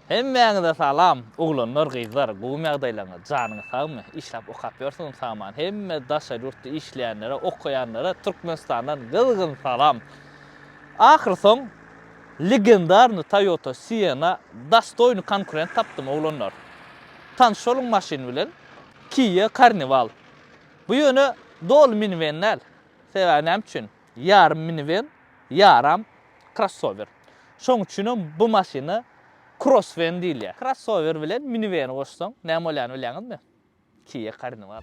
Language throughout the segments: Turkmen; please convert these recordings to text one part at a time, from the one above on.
Hemmäňize salam oglanlar gyzlar gowymy ýagdaýlaryňyz janyňyz sagmy işläp okap ýörsüňizmi saman hemme daşary ýurtda işleýänlere okaýanlara Türkmenistandan gyzgyn salam ahyr soň legendarny Toyota Sienna dostoýny konkurent tapdym oglanlar tanyş boluň maşyn bilen Kia Carnival bu ýöne doly miniwen däl sebäbi näme üçin Ýarym miniwen, ýaram krossower. Şoň üçinem bu maşyna krosswen diýilýär. Krossower bilen miniweni goşsaň, näme bolýany bilýäňizmi? Kia Carnival.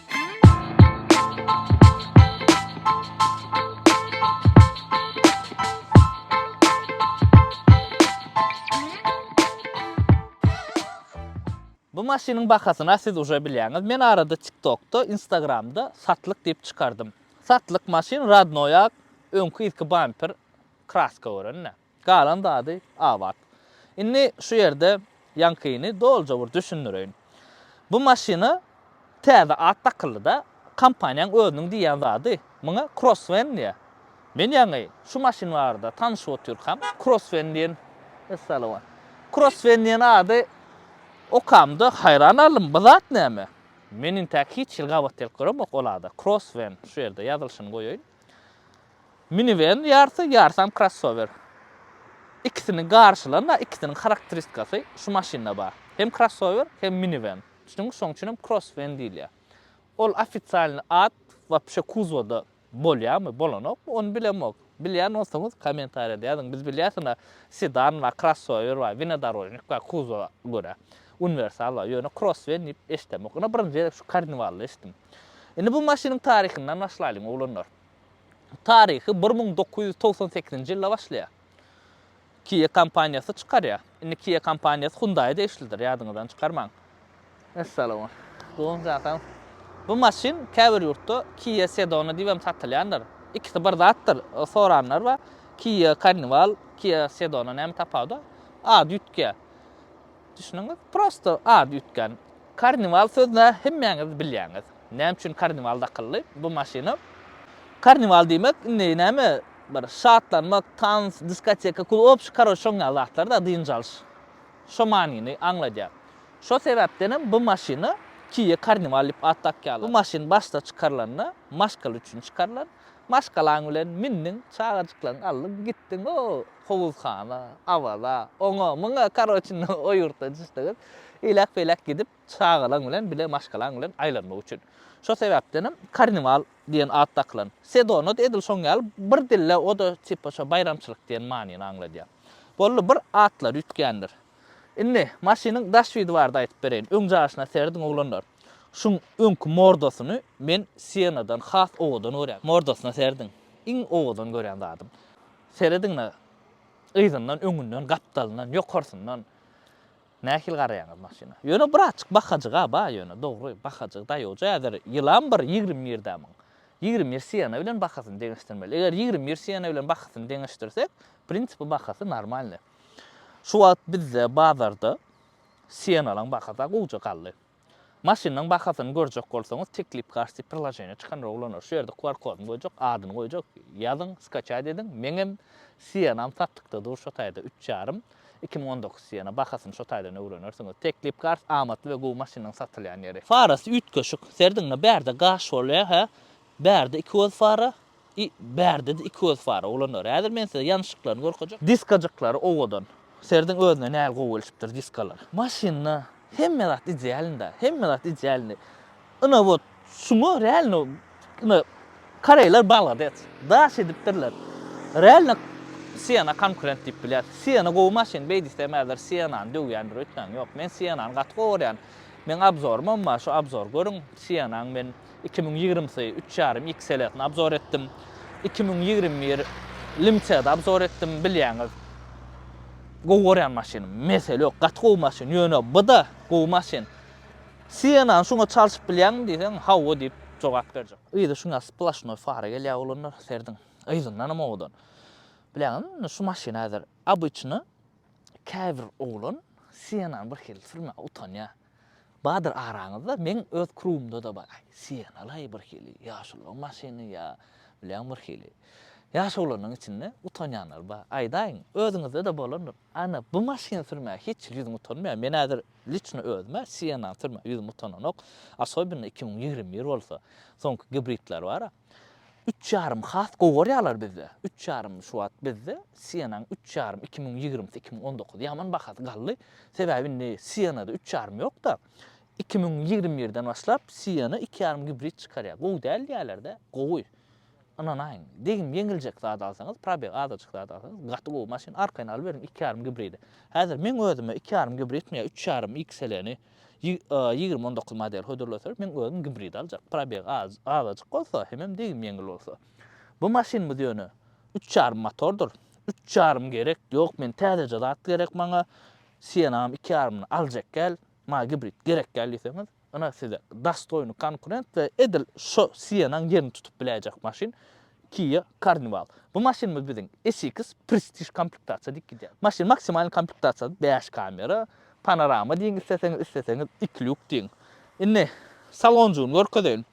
Bu maşynyň bahasyna siz uje bilýäňiz. Men arada TikTokda, Instagramda satlyk diýip çykardym. Satlyk maşyn radnoýak, öňki yzky bamper kraska görende. Galan zady abat. Indi şu ýerde ýaňkyny doluja bir düşündireýin. Bu maşyna täze at dakyldy-da, kompaniýaň özüniň diýýän zady muňa Crossvan diýýär. Men ýaňy şu maşyn barada tanyşyp otyrkam, Crossvan diýen, Essalamualeýkum, Crossvan diýen ady okamda haýran galdym, bu zat näme? Men intäk hiç hili gabat gelip göremok ol ada, Crossvan, şu ýerde ýazylyşyny goýaýyn. Miniwen ýarsy, ýarsam krossower. Ikisini garşylan-da, ikisiniň harakteristikasy şu maşynda bar. Hem krossower, hem miniwen. Düşüniň, şoň üçin hem krosswen diýilýär. Ol ofisialny at wapşe kuzwoda bolýarmy, bolanokmy, ony bilemok. Bilýän bolsaňyz, kommentariýada ýazyň. Biz bilýäs, ynha, sedan bar, krossower bar, wnedorožnik bar, kuzwowa görä, uniwersal bar. Ýöne krosswen diýip eşidemok. Ynha, birinji gezek şu karniwalda eşitdim. Indi bu maşynyň taryhyndan başlaýlyň, oglanlar. Taryhy bir müň dokuz ýüz togsan sekizinji ýylda başlaýar. Kia kompaniýasy çykarýar. Indi Kia kompaniýasy Hyundai-a degişlidir, ýadyňyzdan çykarmaň. Essalamun. Dogan jan sag. Bu maşyn käbir ýurtda Kia Sedona diýibem satylýandyr. Ikisi bir zatdyr, soranlar bar. Kia Carnival, Kia Sedona näme tapawudy? Ady üýtgeýär. Düşündiňiz? Prosto ady üýtgän. Karniwal sözüni hemmäňiz bilýäňiz. Näme üçin karniwal dakyldy bu maşyna? Karniwal diýmek indi näme bir şatlanmak, tans, diskoteka, klub, obşi karoç şoň ýaly zatlar-da, dynç alyş. Şo manyny aňladýar. Şo sebäpdenem bu maşyna Kia Carnival diýip at dakýarlar. Bu maşyn başda çykarylanda maşgala üçin çykarylan. Maşgalaň bilen mindiň, çagajyklaň aldyň, gitdiň, o! howuzhana, awaza, oňa, muňa, karoçi, o ýurtda düşseňiz, eýläk-beýläk gidip, çagalaň bilen, bile maşgalaň bilen aýlanmak üçin. Şo sebäpdenem karniwal diýen at dakylan. Sedona-da edil şoň ýaly bir dilde, o-da tipa şo baýramçylyk diýen manyny aňladýar. Boldy, bir atlary üýtgändir. Indi, maşynyň daş widi barada aýdyp bereýin. Öň jaşyna serediň, oglanlar. Şuň öňki mordasyny men Sienadan has owadan görýän. Mordasyna serediň. Iň owadan görýän zadym. Serediň-le, yzyndan, öňünden, gapdalyndan, ýokarsyndan nähili garaýaňyz maşyna. Ýöne birazjyk bahajyg-a bar ýöne, dogry, bahajyg, daýawja häzir ýylam bir ýigrimi birde-miň. Ýigrimi bir siýena bilen bahasyny deňeşdirmeli. Eger ýigrimi bir siýena bilen bahasyny deňeşdirsek, w prinsipi bahasy normalny. Şu wagt bizde bazarda siýenalaň bahasy-a gowja galdy. Maşynyň bahasyny görjek bolsaňyz teklip karty priloženiýa çykandyr oglanlar şu ýerde qr kodyny goýjak adyny goýjak ýazyň skaçat ediň meňem sienam satlykda dur şo taýda üç ýarym iki müň on dokuz siena bahasyny şo taýdan öwrenersiňiz teklip kart amatly we gowy maşynyň satylýan ýeri. Farasy üýtgeşik, serdiňde bärde gaş bolýa hä bärde iki göz fara I, Bärde-de iki göz bar, oglanlar. Häzir men size ýanyşyklaryny görkezjek. Diskajyklary owadan. Serediň özüne nähili gowy gelişipdir diskalar. Maşynda hemme zat idealnda, hemme zat idealny. Ina wot şuňa realno ina koreýler balades. Daş edipdirler. Realno Siena konkurent diýip bilýäs. Siena gowy maşyn, beý diýsem häzir Sienany döwýändir öýtmäň. Ýok, men Sienany gaty gowy görýän. Meň abzorumam bar, şu abzory görüň. Sienany men Iki müň ýigrimisi üç ýarym XL-sini obzor etdim. Iki müň ýigrimi bir Limca-da obzor etdim. Bilýäňiz, gowy görýän maşynym. Mesele ýok, gaty gowy maşyn. Ýöne bu-da gowy maşyn. Sienany şuňa çalşyp bilýäňmi diýseň, hawa diýip jogap berjek. Yzy şuňa splasnoý fara gelýär oglanlar, serediň. Yzyndanam owadan. Bilýäňizmi, indi şu maşyn häzir obyçny käbir oglan Sienany birhili sürmäge utanýar. Bardyr araňyzda, meň öz krugumda-da bar. Aý, sienalaý birhili, ýaşulyň maşyny ýa, bilýän birhili. Ýaş oglanyň içinde utanýanlar bar. Aýdaýyň, özüňizde-de bolandyr. Ana, bu maşyny sürmäge hiç hili ýüzüm utanmaýar. Men häzir liçno özüm-ä sienany sürmäge ýüzüm utananok. Asobinno iki müň ýigrimi bir bolsa, soňky gibridler bar-a. Üç ýarym has gowy gorýarlar bizde. Üç ýarym şu wagt bizde Sienanyň üç ýarym iki müň ýigrimisi iki müň on dokuz ýaman bahasy galdy. Sebäbi indi Sienada üç ýarym ýokda. Iki müň ýigrimi birden başlap Siena iki ýarym gibrid çykarýar. Gowy däl diýýärlerde. Gowy. Ynanaýyň. Degim ýeňiljek zat alsaňyz, probeg azajyk zat alsaňyz gaty gowy maşyn. Arkaýyn alyberiň iki ýarym gibridi. Häzir meň özüme iki ýarym gibridmi ýa üç ýarym XL-ni Ýigrimi on dokuz model hödürleseler, meň özüm gibridi aljak. Probegi azajyk bolsa, hemem degim ýeňil bolsa. Bu maşynymyz ýöne üç ýarym motordyr. Üç ýarym gerek, ýok, men täzeje zat gerek maňa. Sienagam iki ýarymyny aljak gel, maňa gibrid gerek gel diýseňiz, ynha size dastoýny konkurent we edil şo Sienanyň ýerini tutup biläýjek maşyn. Kia Carnival. Bu maşynymyz biziň SX Prestige komplektasiýa diýip gidýär. Maşyn maksimalnyý komplektasiýasy bäş kamera, panorama diýiň isleseňiz, isleseňiz iki lýuk diýiň. Indi salonjygyny görkezeýin.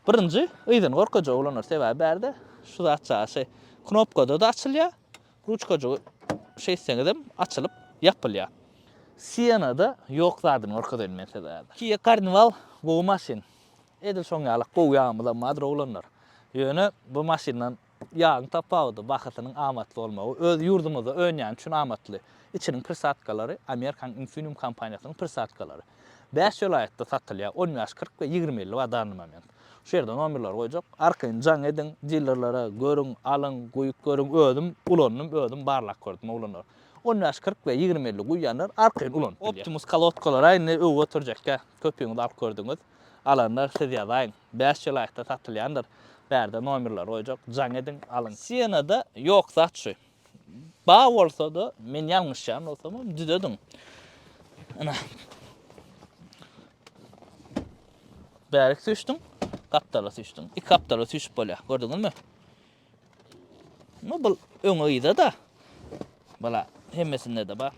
Birinji yzyny görkezjek oglanlar, sebäbi bärde şu zat çaşy knopkada-da açylýar, ruçkajygy şeýtseňizem açylyp ýapylýar. Sienna-da ýok zadyny görkezeýin men size häzir. Kia Carnival gowy maşyn. Edil şoň ýaly gowy ýagymyzam bardyr oglanlar. Ýöne bu maşyndan ýagyň tapawudy, bahasynyň amatly bolmagy, öz ýurdumyzda önýäni üçin amatly. Içiniň prisatkalary Amerikanyň Infineum kompaniýasynyň prisatkalary. Bäş welaýatda satylýar, on bäş, kyrk we ýigrimi elli bar danly moment. Şu ýerde nomerleri goýjak. Arkaýyn jaň ediň, dilerlere, görüň, alyň, guýup görüň, özüm ulandym, özüm barlap gördüm oglanlar. On bäş, kyrk we ýigrimi elli guýýanlar arkaýyn ulanyp bilýär. Optimus kolodkalary-a indi öwgi göterjekkä, köpüňiz alyp gördüňiz. Alanlar siz ýazaýyň. Bäş çelaýkda satylýandyr. Bärde nomerleri goýjak. Jaň ediň, alyň. Sienada ýok zat şu. Bar bolsada, men ýalňyşýan bolsamam, düzediň. Ine. Bärik süýşdüň, gapdala süýşdüň. Iki gapdala süýşüp bolýar. Gördüňizmi? Ama bu öňe yza da. Bala hemmesinde de bar.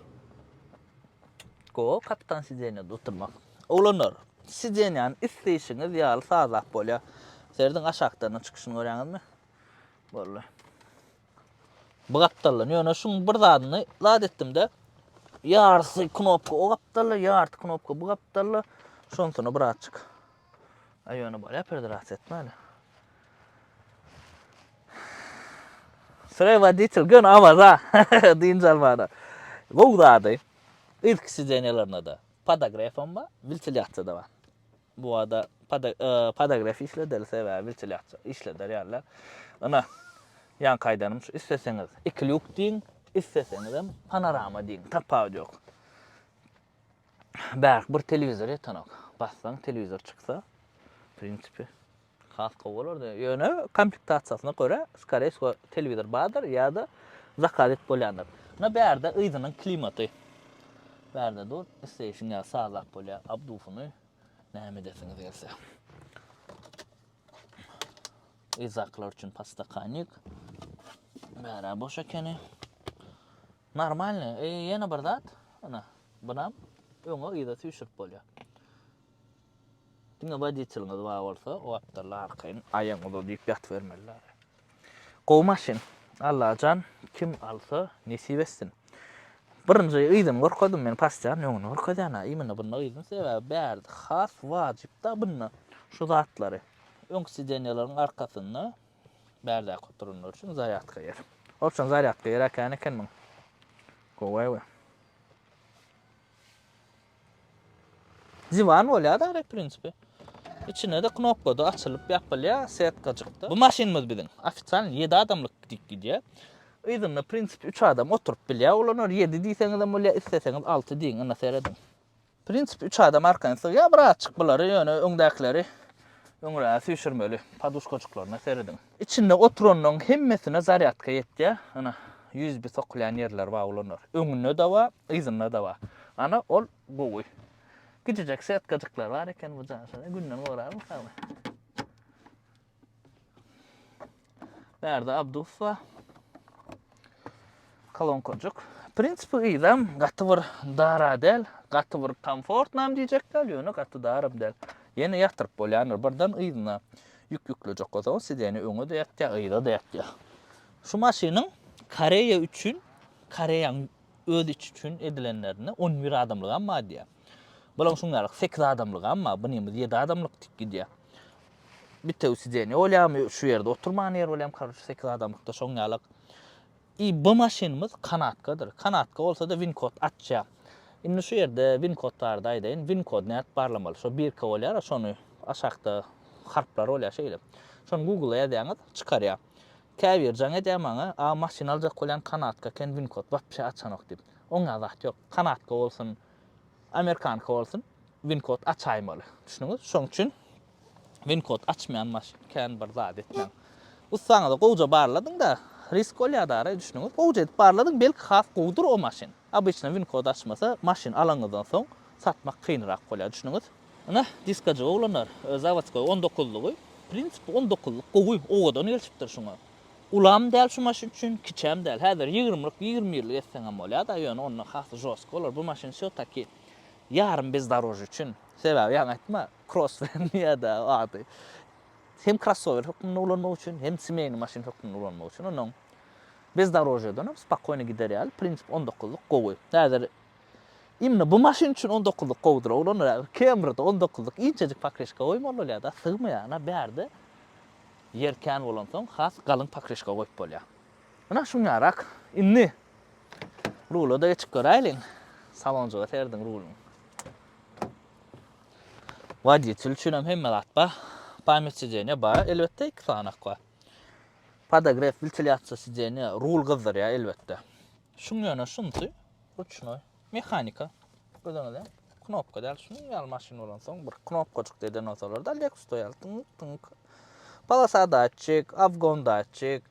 Go kapitan sidenýada oturmak. Oglanlar, sidenýany isleýşiňiz ýaly sazlap bolýar. Serediň aşakdan çykyşyny görýäňizmi? Boldy. Bu gapdaldan ýöne şuň bir zadyny zat etdimde. Ýarysy knopka o gapdalda, ýarysy knopka bu gapdalda. Şonsyny birazjyk A ýöne bolýar predrasiýa etmäli. Sre woditel gön awaza dynç almana. Gowy zady. Ilki sidenýalarynda-da podagrefam bar, wiltilýasiýa-da bar. Bu wada podagref işledeli sebäbi wiltilýasiýa işleder ýalylar. Ina, ýaňky aýdanym şu, isleseňiz iki lýuk diýiň, isleseňizem panorama diýiň, tapawudy ýok. Bärk bir telewizor ýetenok. Bassaň telewizor çyksa, w prinsipi, has gowy bolardy. Ýöne komplektasiýasyna görä, skoree wsgo, telewizor bardyr ýa-da zakaz edip bolýandyr. Ine bärde yzynyň klimaty. Bärde dur, isleýşiň ýaly sazlap bolýar, abdusyny näme edesiňiz gelse. Yzdakylar üçin podstakannik. Bärä boş ekeni. Normalny e ýene bir zat ana bunam öňe yza süýşürip bolýar. Diňe woditeliňiz bar bolsa o apdalla arkaýyn aýagyňyza diýip ýatybermeliler. Gowy maşyn. Allajan kim alsa nesip etsin. Birinji yzyny görkezdim men pasýan öňüni görkezýän ha imine bunda yzyn sebäbi bärde has wajypda bunda şu zatlary öňki sidenýalaryň arkasynda Bärdäki oturanlar üçin zarýadka ýeri. Opçan zarýadka ýeri äkän eken muň. Gowy we. Diwan bolýar da rep prinsipi. İçine de knopka da açylyp ýapylýar, setkajykda. Bu maşynymyz biziň. Ofitsialny 7 adamlyk gidip gidýär. Yzynda prinsipi 3 adam oturyp bilýär. Olanar 7 diýseňizem bolýar, isleseňiz 6 diýiň, ynha serediň. Prinsip üç adam arkaýyn sygýar bir azçyk bulary ýöne öňdäkileri öňräge süýşürmeli paduşkajyklaryna serediň. Içinde oturanlaryň hemmesine zarýadka ýetýär ana usb sokulýan ýerleri bar ulanlar öňünde de bar yzynda da bar ana ol gowy kiçijek setkajyklar bar eken bu jaýlarda günde görarmikan. Bärde Abdus bar. Kolonkajyk. Prinsipi gyzam gaty bir dara däl, gaty bir komfortnam diýjek däl, ýöne gaty daram däl. Ýene ýatyryp bolýandyr. Birden yzyna ýük ýüklejek bolsaň, sideni öňe-de ýatýar, yza-da ýatýar. Şu maşynyň Koreýa üçin, Koreýanyň öz içi üçin edilenlerinde on bir adamlygam bar diýýär. Bulaň şuň ýaly sekiz adamlyk amma bu nimiz ýedi adamlyk diýip gidýär. Bitewi sidenýe bolýamy, şu ýerde oturman ýer bolýamy karoç sekiz adamlykda şoň ýalyk. I bu maşynymyz kanatkadyr. Kanatka bolsa-da winkod açýar. Indi şu ýerde winkod barada aýdaýyn. Winkod nädip barlamaly? Şo birka bolýar-a şony aşakda harplar bolýar şeýle. Şony Google-a ýazýaňyz çykarýar. Käbir jaň edýär maňa, A maşyn aljak bolýan kanatka eken winkod wapşe açanok diýip. Oňa zat ýok. Kanatka bolsun, amerikanka bolsun winkod açaýmaly. Düşdüňiz? Şoň üçin winkod açmaýan maşyn kän bir zat etmäň. Ussaňyzy gowja barladyňda risk bolýar-da ara, düşdüňiz? Gowja edip barladyň, belki has gowudyr o maşyn. Obyçna win kod açmasa maşyn alanyňyzdan soň satmak kynrak bolýar düşnüňiz. Ine diskajyk oglanlar zawodskoý on dokuzlygy prinsip on dokuzlyk gowy owadan gelşipdir şuňa ulam däl şu maşyn üçin kiçem däl häzir ýigrimlik ýigrimi birlik etseňem bolýada ýöne onda has žostky bolar bu maşyn wsё taki ýarym bezdorožýe üçin sebäbi ýaňy aýtma kross bilen ýada ady hem krossower hökmünde ulanmak üçin hem semeýny maşyn hökmünde ulanmak üçin onuň Bezdorožýedenem spokojno gider ýaly, prinsip on dokuzlyk gowy. Häzir Imni bu maşyn üçin on dokuzlyk gowudyr oglanlar häzir Kemride on dokuzlyk inçejik pakreşka goýmaly bolýar da sygmaýar ana bärde ýer kän bolansoň has galyň pakreşka goýup bolýar. Ynha şuňňarak indi rulada geçip göräýliň salonjyga serediň ruluň. Woditel üçinem hemme zat bar, pamýat sideniýe bar elbetde iki sanyak bar. Podogref wltilýasiýa sideniýa rul gyzdyrýar elbetde. Şuň ýöne şunsy ruçnoý, mehanika. Özüňize knopka däl şunuň ýaly maşyn bolansoň bir knopkajykda eden bolsalarda Lexus-da ýaly tyňk tyňk. Polosa datçik, obgon datçik,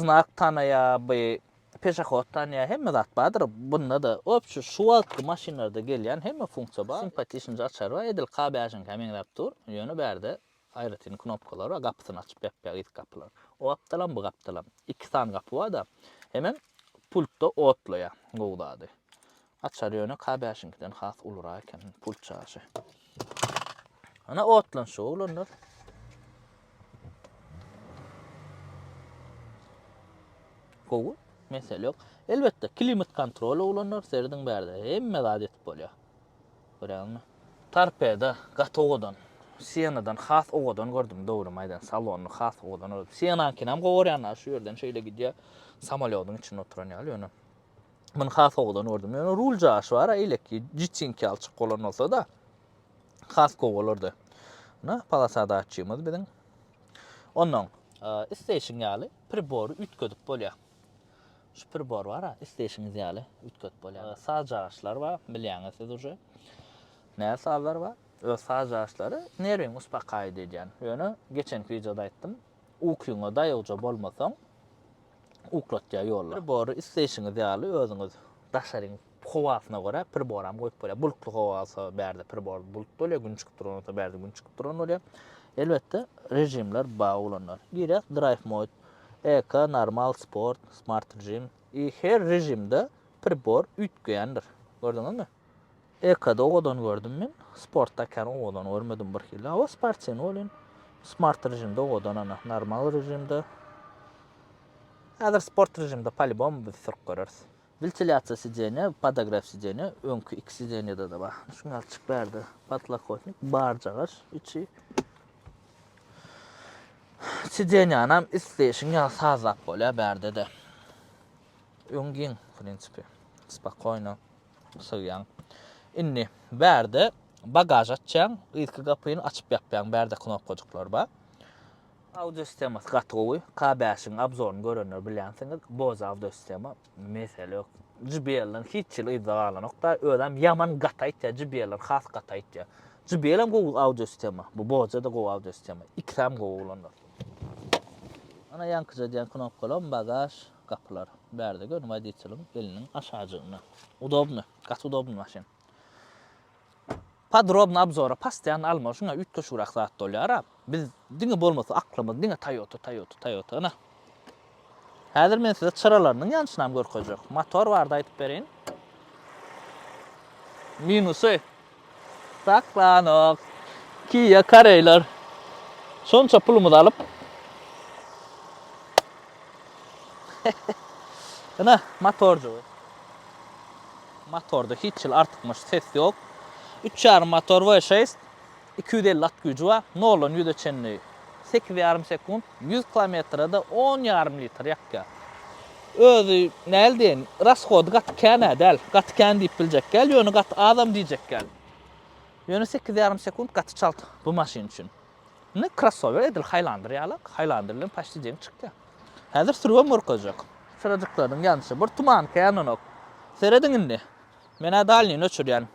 znak tanaýar, by peşahod tanaýar hemme zat bardyr bunda-da. Obçi şu wagtky maşynlarda gelýän hemme funksiýa bar. Simpatişnje açary bar edil K bäşiňkä meňzäp dur ýöne bärde Aýratyn knopkalara gapysyny açyp bäkdäki ýitgi gapylar. O gapdalam, bu gapdalam. Iki sany gapy bar-da, hemem pultda otlaýar. Gowy zady. Açary ýöne K bäşiňkiden has ulurak eken, pult çaşy. Ana otlanşyk oglanlar. Gowy, mesele ýok. Elbetde, klimat kontrol oglanlar, serediň bärde hemme zat ýetip bolýar. Görýäňmi? Torpedo gaty owadan. Sienadan has owadan gördüm, dogrymy aýdan, salony has owadan gördüm. Sienaňkynyam gowy görýän ha, şu ýerden şeýle gidýär, samolýodyň içinde oturan ýaly, ýöne muny has owadan gördüm. Ýöne rul jaýyşy bar-a, eýleki jitinki alçak bolan bolsa-da, has gowy bolardy. Muna polasa datçigimiz biziň. Onnoň, e, isteýşiň ýaly pribory üýtgedip bolýar. Şu pribor bar-a, isleýşiňiz ýaly üýtgedip bolýar. Saz jaýaçlary bar, bilýäňiz siz uje. Näze sazlar bar. Öz saz jaýaçlary nerwiňi uspakaýit edýän. Ýöne geçenki wideoda aýtdym, ukyňa daýawja bolmasaň, uklatýar ýolla. Pribory isleýşiňiz ýaly özüňiz daşaryň Howasyna görä priboram goýup bolýar. Bulutly howa bolsa bärde pribor bulut bolýar, gün çykyp duran bolsa bärde gün çykyp duran bolýar. Elbetde režimler ba ulanýar. Girýär Drive Mode, Eco, Normal, Sport, Smart režim. I her režimde pribor üýtgeýändir. Gördüňizmi? Eco-da owadan gördüm men. Sportda kän owadan görmedim birhili. Hawa sportiwny welin Smart režimde owadan ana, Normal režimde. Häzir Sport režimde polibom biz sürüp göreris. Wentilýasiýa sideniýa, podograf sideniýa, öňki iki sideniýada-da bar. Şuny açyp bärde, podlokotnik, barjagaç içi. Sideniýanam isleýşiň ýaly sazlap bolýar bärde-de. Öň giň, w prinsipi, spokoýno sygýaň. Indi bärde bagaž açýaň, yzky gapyny açyp-ýapýaň, bärde knopkajyklar bar. Audio sistemasy gaty gowy. K bäşiň abzoryny görenler bilýänsiňiz. Bose audio sistema. Mesele ýok. JBL-den hiç ýyl yzda galanok da. Özem ýaman gaty aýtýar. JBL-ler has gaty aýtýar. JBL hem gowy audio sistema. Bu Bose-de gowy audio sistema. Ikisem gowy oglanlar. Ana ýaňkyja diýen knopkalam bagaž gapylar. Bärde görüň wodiçeliň eliniň aşajygynda. Udobny. Gaty udobny maşyn. Podrobny obzora postoýanno alma şuňa üýtgeşigrak zat bolýara biz diňe bolmasa aklymyz diňe toýota toýota toýota ynha häzir men size çyralarynyň ýanyşynam görkezjek motor barda aýdyp bereýin minusy saklanok kia kareýler şonça pulumyzy alyp Ine, motorjygy. Motorda hiç hili artykmaç ses ýok. Üç ýarym motor V6, iki ýüz elli at güýji bar, noldan ýüze çenli sekiz ýarym sekunt, ýüz kilometrede on ýarym litr ýakýar. Özi, näl diýeýin, rashody gaty kän-ä däl, gaty kän diýip biljek däl, ýöne gaty azam diýjek däl. Ýöne sekiz ýarym sekunt gaty çalt bu maşyn üçin. Indi krossower edil Highlander ýaly, Highlander bilen paşti deň çykýar. Häzir sürgem gorkazjak. Çyrajyklarynyň ýanyşy bir tumanka ýananok. Serediň indi. Men-ä dalnyny öçürýän.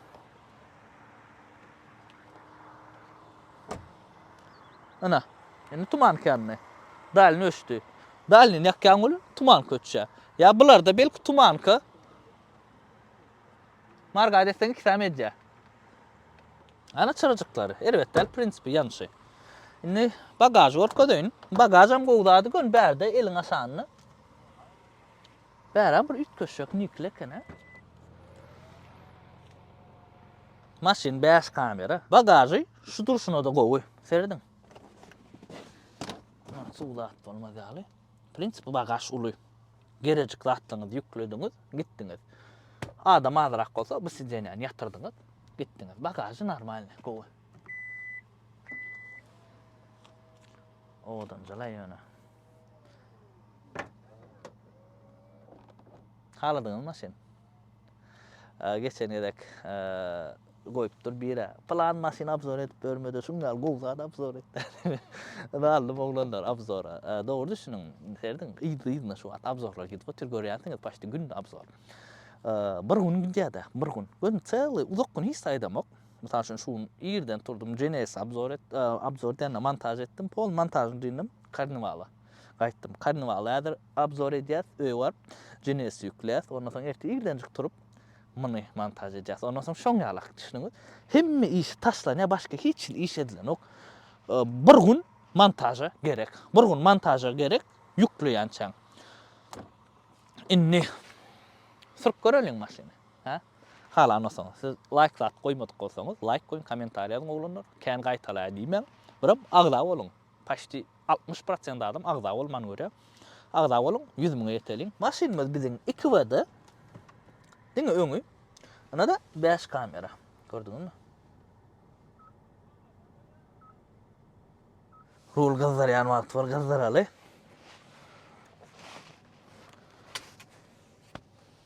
Ana, indi tumanka ýandy. Dalny öçdi. Dalnyny ýakýan welin tumanka öçýär. Ýa bularda belki tumanka Marga desseň iki sany edýär. Ana çyrajyklary. Erbet däl prinsipi ýanyşy. Indi bagažy görkezeýin. Bagažam gowy zady gön bärde eliň aşanda. Bäram bir üýtgeşjek nikli eken-a. Maşyn 5 kamera. Bagažy şu durşuna-da gowy. Serediň. Suw zat bolmaz ýaly. Prinsipi bar gaş uly. Gerejik zatlaryňyzy ýüklediňiz, gitdiňiz. Adam azrak bolsa bu sidenýany ýatyrdyňyz, gitdiňiz. Bagažy normalny, gowy. Owadanjalaý ýöne. Haladyňyz maşyn. Geçen gezek Goýupdyr birä. Pylan maşyny abzor edip ýörmede şuň ýaly gowy zat abzor et dädimi. Ynaldym oglanlar abzora. Dogry düşüniň Ferdiň yzly-yzyna şu wagt abzorlar gidip otyr görýänsiňiz paçti günde abzor. Bir gün gidýädä bir gün. Gördüm çyly uzak gün hiç saýdamok. Mysal üçin şu gün irden turdum Genesis abzor et abzor diýende montaž etdim pol montažyny dyndyym karniwala gaýtdym. Karniwaly häzir abzor edýäs öýe baryp Genesis ýükleýäs ondan soň ertir irdenjik turup Muny montaž edýäs. Ondan soň şoň ýalak düşüniňiz. Hemme işi taşlanýar, başga hiç hili iş edilenok. Bir gün montaža gerek. Bir gün montaža gerek ýükleýänçäň. Indi sürüp göreliň maşyny. Ha? Halan olsaň, siz laýk zat goýmadyk bolsaňyz, laýk goýuň, kommentariýa ýazyň oglanlar. Kän gaýtalaýar diýmäň. Birem agza boluň. Paçti altmyş prosent adam agza bolmany görýär. Agza boluň, ýüz müňe ýeteliň. Maşynymyz biziň iki WD. Diňe öňi. Ynada bäş kamera. Gördüňizmi? Rul gyzdyrýan wagty bir gyzdyraly.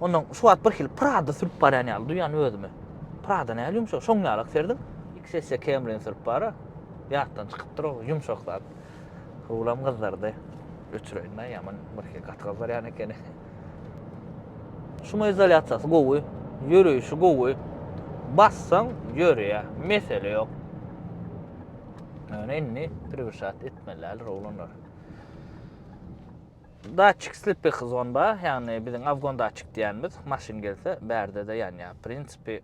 Ondan şu wagt bir hili Prada sürüp barýan ýaly duýýan özümi. Prada nähili ýumşak, şoň ýalak serdiň. XS Camry-ni sürüp bara, ýatdan çykypdyr o ýumşak zat. Howlam gyzardy. Öçüreýin-dä, ýaman bir hili gaty gyzarýan ekeni. Şumoizolýasiýasy gowy, ýöreýşi gowy. Bassaň ýörýär, mesele ýok. Ýöne indi prewşat etmelidirler oglanlar. Datçik slipek zon ba, ýagny biziň awgon datçik diýýänimiz, maşyn gelse bärde-de ýanýar. W prinsipi,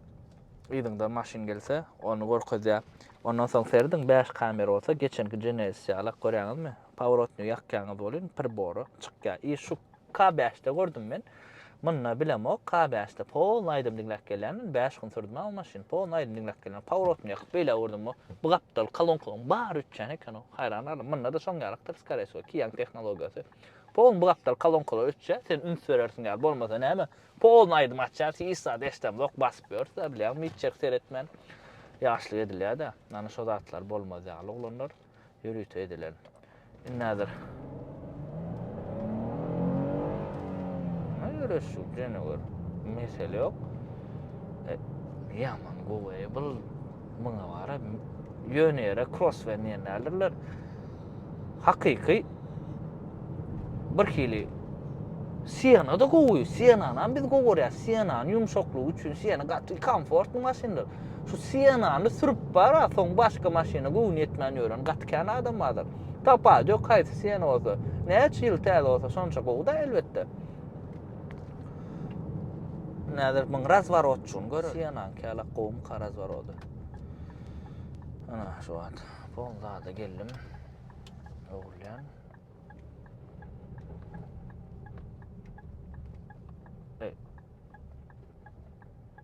yzyňdan maşyn gelse, ony görkezýär. Ondan soň serediň, bäş kamera bolsa, geçenki Genesis ýalak, görýäňizmi? Paworotnyý ýakýaňyz welin, pribora çykýar. I şu K bäşde gördüm men, Munda bilemok ka bäşde polny aýdym diňläp gelýändim bäş gün sürdi maňa maşyn polny aýdym diňläp gelýän paworotny ýakyp beýle öwürdüm bu bu gapdal kalonkaň bary öçýän ekenow haýran galdym munda da şoň ýalykdyr skareye wsyo kiýaň tehnologiýasy polny bu gapdal kalonkalar öçýä sen üns berersiň ýaly bolmasa näme polny aýdym açýas hiç zat eşdemzok basyp ýörüsä bilýäňmi hiç ýeri seretmän ýaşlyk edilýädä nana şo zatlar bolmaz ýaly oglanlar. ýörite edilen. Indi häzir Görüşük jene gör. Mesele yok. E, yaman gowy. Bu buna var. Yöne yere cross ve niyenlerdirler. Hakiki bir hili Sienna da gowy. Sienna'nı biz gowy görýär. Sienna'nın ýumşaklygy üçin Sienna gaty komfortly maşyndyr. Şu Sienany sürüp bara, soň başga maşyna göwni ýetmän ýören gaty kän adam bardyr. Tapajy ýok haýsy Siena bolsa. Näçe ýyl täze bolsa şonça gowy-da elbetde. Näzir muň razworotçygyny gör. Sienany käla gowumyka razworody. Ana şu wagt pol zada geldim. Ogulýan.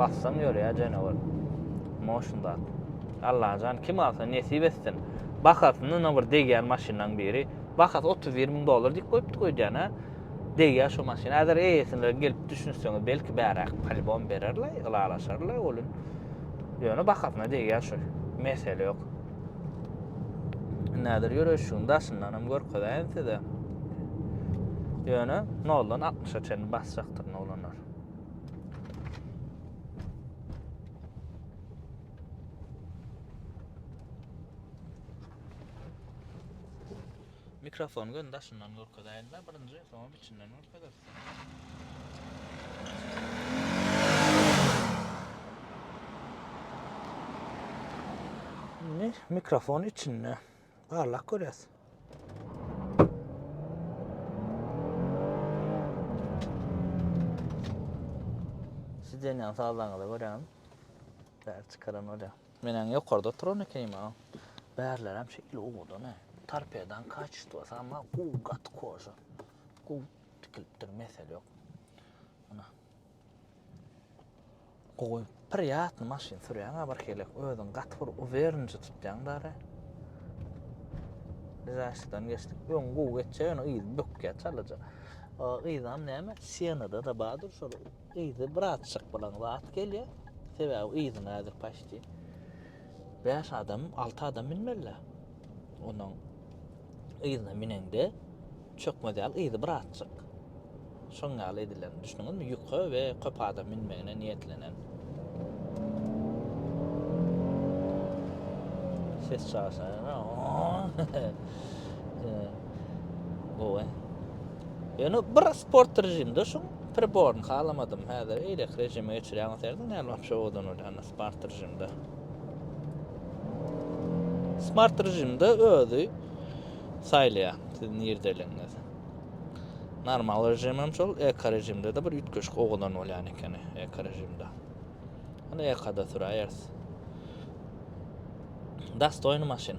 Bassam ýörýär jenewar. Motion zat. Allajan kim alsa nesip etsin. Bahasyny ýene bir degýän maşynlaryň biri. Bahasy 31 müň dollar diýip goýupdy goýdýan ha. Degýär şu maşyn. Häzir eýesine gelip düşünseňiz belki bäräk polibom bererler, ylalaşarlar welin. Ýöne bahasyna degýär şu. Mesele ýok. Näder ýöreşigiň daşyndan hem görkezäýen size. Ýöne 0-dan 60-a çenli basjakdyr noglanlar. Mikrofon gön daşyndan görkezäýin-de birinji, soň Içinden görkezersiň. Indi mikrofon içinde. Barlak görýäs. Siz deňen sazlaňyza görem. Bäri çykaran bolýar. Men äň ýokarda oturan ekenim-a. Bärlerem şeýle owadan-a. Torpedaň kaçistwasy ama guw gaty koža. Guw tikilipdir, mesele ýok. Ana. Gowy, priýatny maşyn sürýäň-a bir helek. Özüň gaty bir uwerniji tutýaň dara. Zaşdan geçdik. Öň guw geçýär, ýöne yz bökýär çalaja. Yzam näme? Sienada-da bardyr şol Yzy birazçyk bilen zat gelýär. Sebäbi yzyna häzir paçti bäş adam, alty adam münmeli. Onuň yzyna müneňde çökmez ýaly yzy birazçyk. Şoň ýaly edilen. Düşündiňizmi? Ýüke we köp adam münmegine niýetlenen. Ses çaşýar. Gowy. Ýöne bir sport režimde şu priborny halamadym. Häzir eýlek režime geçirýän bolsaýdym, näme wapşe owadan bolýan sport režimde. Smart režimde özi saýlaýar siz nirdeligiňiz. Normal režim hem şol, eko režimde de bir üýtgeşik owadan bolýan ekeni eko režimde. Ýöne ekoda süräýeris. Dastoýny maşyn.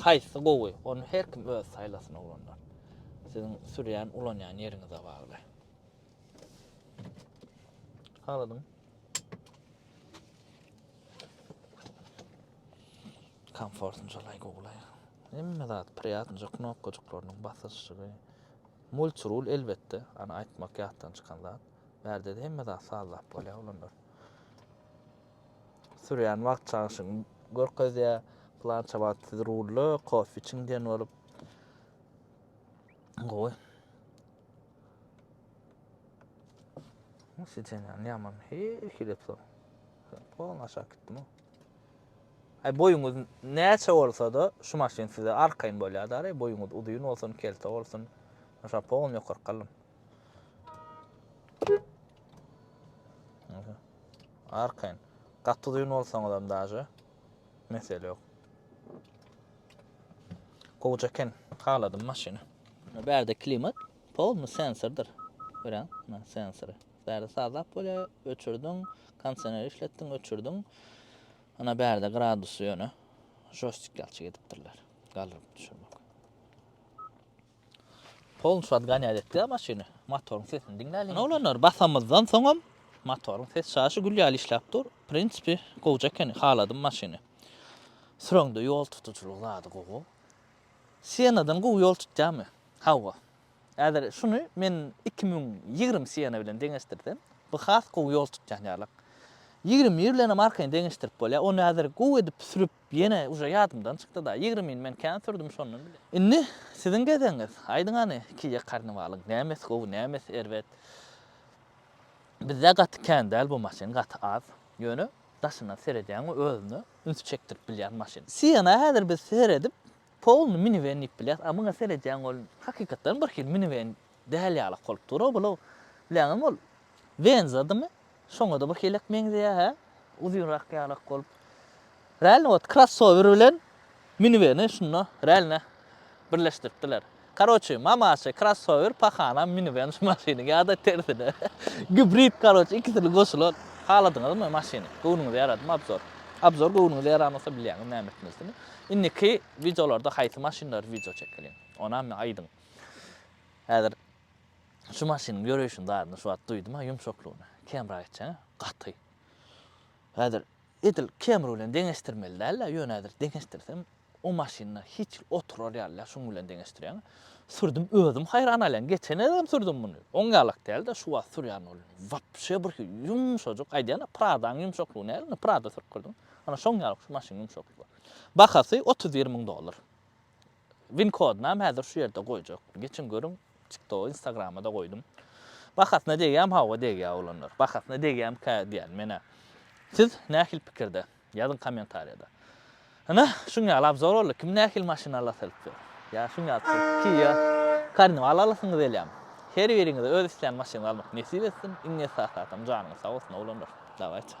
Haýsy gowy ony her kim özi saýlasyn oglanlar. Siziň sürýän ulanýan ýeriňize bagly. Haladyň. Komfortny jalaý gowlaý. Hemme zat priýatnyja knopkajyklarynyň basyşygy. Multirul elbetde, ana aýtmak ýatdan çykan zat. Bärde hemme zat sazlap bolýar oglanlar. sürýän wagt çalşyny görkezýär. Plança wagt siz rulda kofe içiň diýen bolup. Gowy. Siçenýan ýaman. Her hili pul. Pol aşak gitdim. Ay boýuňyz näçe bolsa-da şu maşyn size arkaýyn bolýar-da, boýuňyz uzyn bolsun, kelte bolsun. Şa pol ýokary galym. Arkaýyn. Gaty uzyn bolsaňyz hem daže mesele ýok. Gowja eken. Haladym maşyny. Bärde klimat polny sensordyr. Görýän, na sensory. Bärde sazap bolýa, öçürdiň, kondisioner işletdiň, öçürdiň. Ana bärde gradusy ýöne joystick ýalçy edipdirler. Galdyryp düşürmek. Polny şat ganýat etdi-ä maşyny. Motoryň sesini diňläliň. Ana oglanlar, basamyzdan soňam motoryň ses çaşy gül ýaly işläp dur. Prinsipi, gowja ekeni, haladym maşyny. Süreňde ýol tutujylyk zady gowy. Sienadan gowy ýol tutýarmy? Hawa. Häzir şuny men iki müň ýigrimi Siena bilen deňeşdirsem, bu has gowy ýol tutýan ýalyk. Ýigrimi bir bilenem arkaýyn deňeşdirip bolýar. Ony häzir gowy edip sürüp, Ýene uje ýadymdan çykdyda ýigrimini men kän sürdüm şondan bile. Indi siziň gezegiňiz. Aýdyň hany Kiýe karnawalyň nämesi gowy nämesi erbet. Bizde gaty kän däl bu maşyn gaty az. Ýöne daşyndan seredýäň we özüne üns çekdirip bilýän maşyn. Siena häzir biz seredip polny miniwen diýip bilýäs a muňa seredýäň ol hakykatdan birhili miniwen däl ýalak bolup dur o bula bileňizmi ol Venza dymy Şoňada bu helek meňzeýä hä? Uzynrak ýalak bolup. Rälini ot krassower bilen miniveni şunda rälne birleşdiripdiler. Karoçi mamaçy krassower pahanam miniven şu maşyny ýada tersine gibrid karoçi ikisini goşulan. Haladyňyzmy maşyny? Göwnüňize ýaradym abzor. Abzor göwnüňize ýaramasa bilýäňiz näme etmelisini. Indiki wideolarda haýsy maşynlary wideo çekeliň? Onam aýdyň. Häzir Şu maşynyň ýöreýşini zadynda şu wagt duýdum-a, ýumşaklygyny. Camry-a etjek-ä, gaty. Häzir edil Camry bilen deňeşdirmeli däl-ä, ýöne häzir deňeşdirsem, o maşynda hiç hili oturar ýaly däl, şunuň bilen deňeşdirýän. Sürdüm, özüm haýran galýan, geçen gezegem sürdüm muny. Oň ýalak däl-de, şu wagt sürýän ol wapşe birhili ýumşajyk, aýdýan-a, Prada-nyň ýumşaklygy näl indi, Prada sürüp girdim. Ana şoň ýaly şu maşynyň ýumşaklygy. Bahasy otuz bir müň dollar. Win kodynam häzir şu ýerde goýjak. Geçiň görüň, TikToga, Instagrama-da goýdum. Bahasyna degýärmi? Hawa, degýär oglanlar. Bahasyna degýärmikä diýýän men-ä. Siz nähili pikirde? Ýazyň kommentariýada. Ine, şuň ýaly obzor boldy. Kim nähili maşyn alasy gelip ýör? Ýa şuň ýaly siz Kia, Carnival alasyňyz gelýärmi? Her biriňize öz islän maşynyňyzy almak nesip etsin. Iň esasy zadam janyňyz sag bolsun, oglanlar. Dawaýçy.